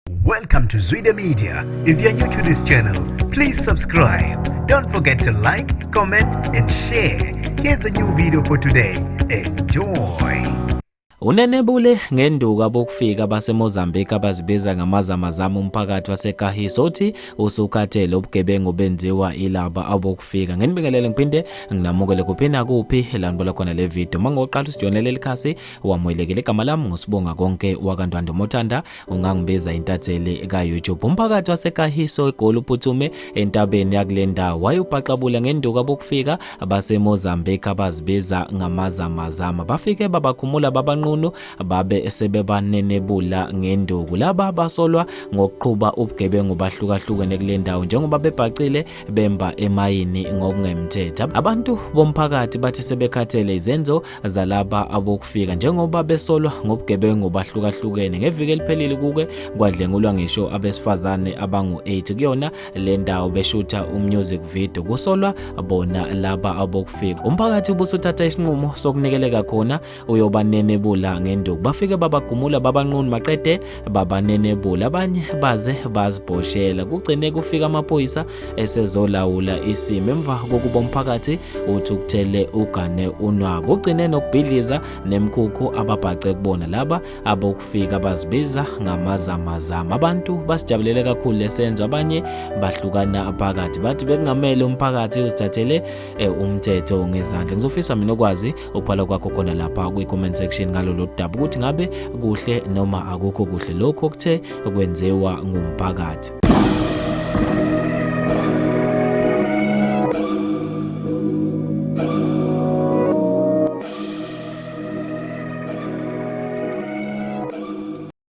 Welcome to Zwide Media. If you're new to this channel, please subscribe. Don't forget to like, comment and share. Here's a new video for today. Enjoy. Unenebule ngenduku abokufika baseMozambique abazibiza ngamazamazama umphakathi waseKahiso uthi usukhathele ubugebengu benziwa ilaba abokufika. Nginibingelele ngiphinde nginamukele kuphi nakuphi elanibona khona le video. Mangoqala usijonele likhasi wamwelekele igama lami ngosibonga konke wakantwandomothanda ungangibiza intatheli ka-youtube umphakathi wasekahiso egoli uphuthume entabeni yakule ndawo wayubhaxabula ngenduku abokufika basemozambique abazibiza ngamazamazama bafike babakhumula babanqunu babe sebebanenebula ngenduku laba basolwa ngokuqhuba ubugebengu bahlukahlukene kule ndawo njengoba bebhacile bemba emayini ngokungemthetho abantu bomphakathi bathi sebekhathele izenzo zalaba abokufika njengoba besolwa ngobugebengu bahlukahlukene ngeviki eliphelile kuke kwadlengulwa ngisho abesifazane abangu-8 kuyona le ndawo beshutha umusic video kusolwa bona laba abokufika umphakathi ubusuthatha isinqumo sokunikeleka khona uyobanenebula ngenduku bafike babagumula babanqunu maqede babanenebula abanye baze bazibhoshela kugcine kufika amaphoyisa esezolawula isimo emva kokuba umphakathi uthukuthele ugane unwabu ugcine nokubhidliza nemkhukhu ababhace kubona laba abokufika bazibiza ngamazamazama abantu basijabulele kakhulu lesenzo abanye bahlukana phakathi bathi bekungamele umphakathi uzithathele eh, umthetho ngezandla ngizofisa mina ukwazi ukubhala kwakho khona lapha kwi-comment section ngalolu daba ukuthi ngabe kuhle noma akukho kuhle lokho okuthe kwenziwa ngumphakathi